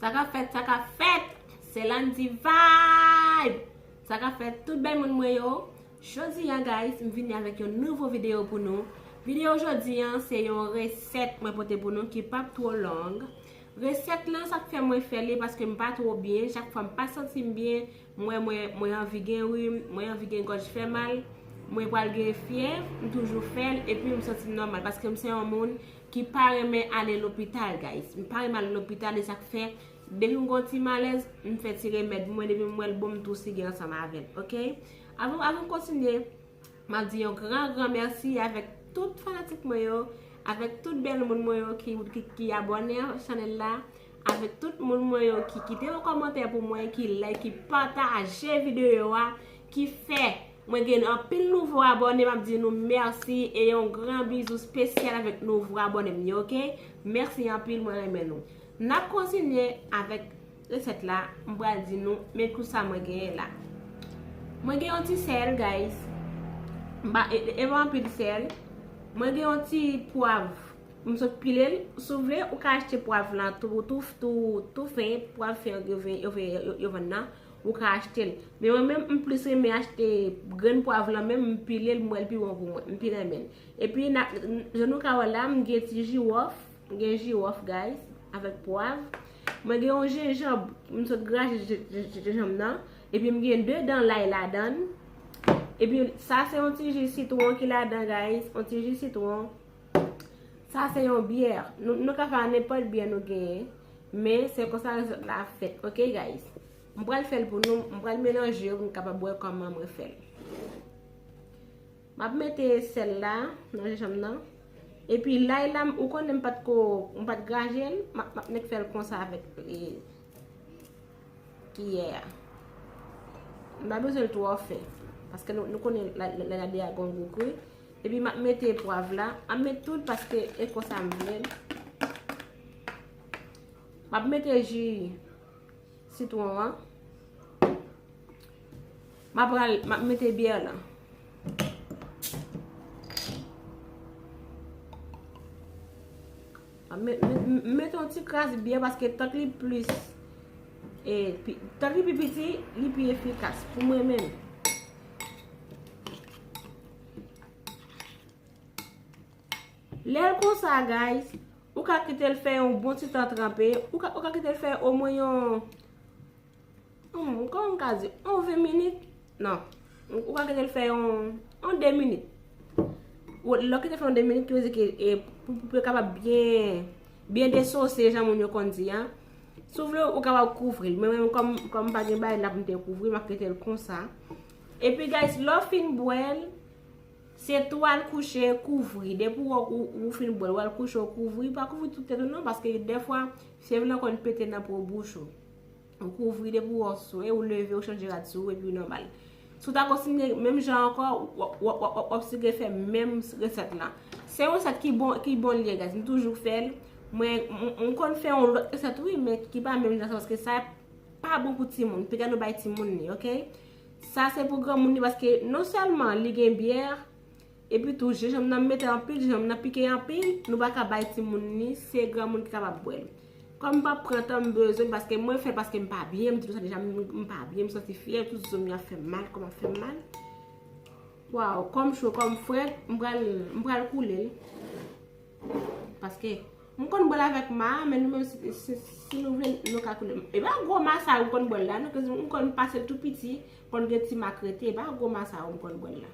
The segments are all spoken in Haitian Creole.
Sa ka fèt, sa ka fèt! Se Landy Vibe! Sa ka fèt tout bèl moun mwen yo! Jodi an guys, m vini avèk yon nouvo videyo pou nou. Videyo jodi an, se yon resèt mwen pote pou nou ki pap two long. Resèt lan sa k fè mwen fè li paske m pa two byen, chak fwa m pa santi m byen, m wè mwen mwen anvi gen rim, mwen anvi gen gòj fè mal, mwen pral gen fyèv, m toujou fè l epi m santi m nòmal paske m se yon moun ki pa renmen ale lopital guys m pa renmen ale lopital e sak fè depi m gon ti malèz m fè ti remèd mwen depi m wèl bon m tou sigen ansanm avèl ok avan m kontinye m ap di yon gran gran mèsi avèk tout fanatik mwen yo avèk tout bèl moun mwen yo ki abòne an chanèl la avèk tout moun mwen yo ki kite yon kòmantè pou mwen ki like ki pataje videyo a ki fè Mwen gen anpil nouvo abòne map di nou merci e yon gran bizou spesyal avèk nouvo abòne m yo ok merci anpil mwen renmen nou nap kontinye avèk resèt la m pral di nou men kou sa mwen genyen la mwen gen yon ti sèl guys m pa e pa anpil sèl mwen gen yon ti pwav m sot pile l sou vle ou ka achte pwav lan tou tou tou tou fen pwav fen yo vè yo vè yo vè nan Ou ka achte l. Men mwen menm m plis renmen achte grenn pwav lan menm m pile l m wè l pi bon pou mwen. M pi renmen l. E pi na jan nou ka wè la m gen ti jiwòf, m gen jiwòf guys avèk pwav. Mwen gen yon jenjanb m sot graje jenjanb nan. E pi m gen 2 dan lay ladan l. E pi sa se yon ti ji sitwon ki ladan guys. Yon ti ji sitwon. Sa se yon byè. Nou ka fè a nenpòt byè nou genyen. Men, se konsa resèt la fèt. Ok guys. M pral fèl pou nou. M pral melanje yo pou nou kapab wè kòman mwen fèl. M ap mete sèl la nan jenjanm nan. E pi lay la, ou konnen m pat ko, m pat graje l. M ap nèk fèl konsa avèk kiyè a. M pa bezwen l twò fen. Paske nou konnen lay la deja gon gou kou. Epi map mete pwav la. Map met tout paske e konsa m vle. Map mete ji sitron an. Map mete byè la. M mete yon ti kras byè paske tant li plis. Tant li pi piti, li pi efikas pou mwen menm. Lèl konsa guys, ou ka kitel fè yon bon ti tan tranpe, ou ka kitel fè o mwen yon, kòman m ka di, yon 20 minit, nan, ou ka kitel fè yon, yon 2 minit. Lè w kitel fè yon 2 minit, ki vle di ke e, pou yo kapab byen, byen desose jan moun yo konn di an. Si w vle ou kapab kouvri, men mwen kòm, kòm m pa gen bay la pou m te kouvri, m ap kitel konsa. Epi guys lè w fin bwèl se tou al kouche kouvri depi w wè ou fin bwèl wal kouche ou kouvri pa kouvri tout tèt ou nan paske dèfwa fyèv lan konn pete nan po bouch ou ou kouvri depi w wè w swe ou leve ou chanje rad sou ou epi ou nòmal si w ta kontinye menm jan ankò wap sike fè menm resèt la se yon resèt ki bon ki bon liye guys m toujou fèl mwen m konn fè yon lòt resèt wi men ki pa menm jan sa paske sa pa bon pou timoun piga nou bay timoun li ok sa se pou granmoun li paske non selman li gen bière epi tou je janm nan mete anpil je janm nan pike anpil nou pa ka bay timoun li se granmoun ki kapab bwèl kom m pap pran tan m bezwen paske mwen fè paske m pa byen m di nou sa deja m pa byen m santi fyèv tout zo m yo ap fè m mal kom ap fè m mal waw kom cho kom frèt m pral koule l. Paske, m konn bwèl avèk ma, men nou menm si nou vle nou ka koule. E pa gwo ma sa yo m konn bwèl la non, koz m konn pase tou piti, konn gen ti ma k rete, e pa gwo ma sa yo m konn bwèl la.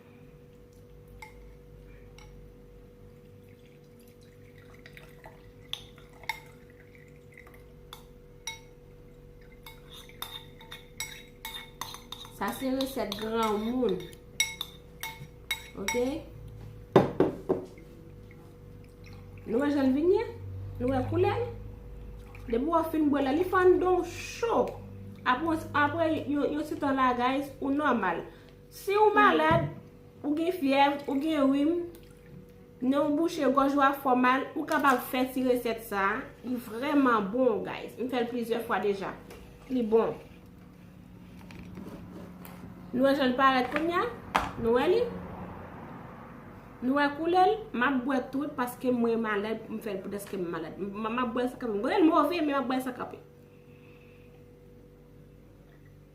Sa se resèt granmoun. Ok? Nou wè jan vin ye? Nou wè koulè? Depi wè fin bwè la, li fann don chou. Apre yon ti tan la guys, ou nòmal. Si ou malad, ou gen fyèv, ou gen rim, nen w bouche, gòj ou a fò mal, ou kapab fè ti resèt sa a. Li vrèman bon guys. M fè l plizyè fwa deja. Li bon. Nou wè jan l parèt kounye a? Nou wè li? Nou wè koulè l? M ap bwè tout paske mwen malad, m fè l pou dèske m malad. M ap bwè l san kanpe. M konnen l move men m ap bwè l san kanpe.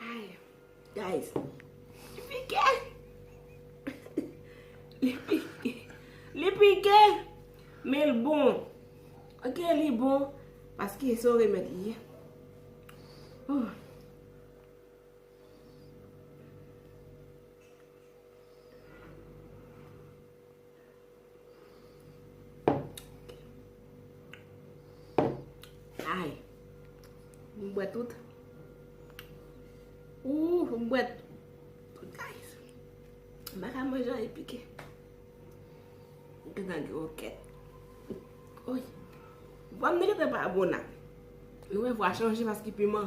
Ay guys li pike li pike li pike men l bon ok li bon paske se yon remèd li ye oh Ay, m bwè tout. Ouh, m bwè tout guys. M baka manje an e pike. M te nan gwo kèt. Oye. Vwa m nèkè te pa bon nan. Nou e vwa chanje paske piman.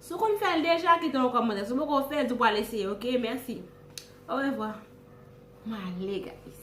Si w konn fè l deja kite yon kòmantè. Si w poko fè l di w pral eseye ok. Mèsi. Orevwa. Mwen ale guys.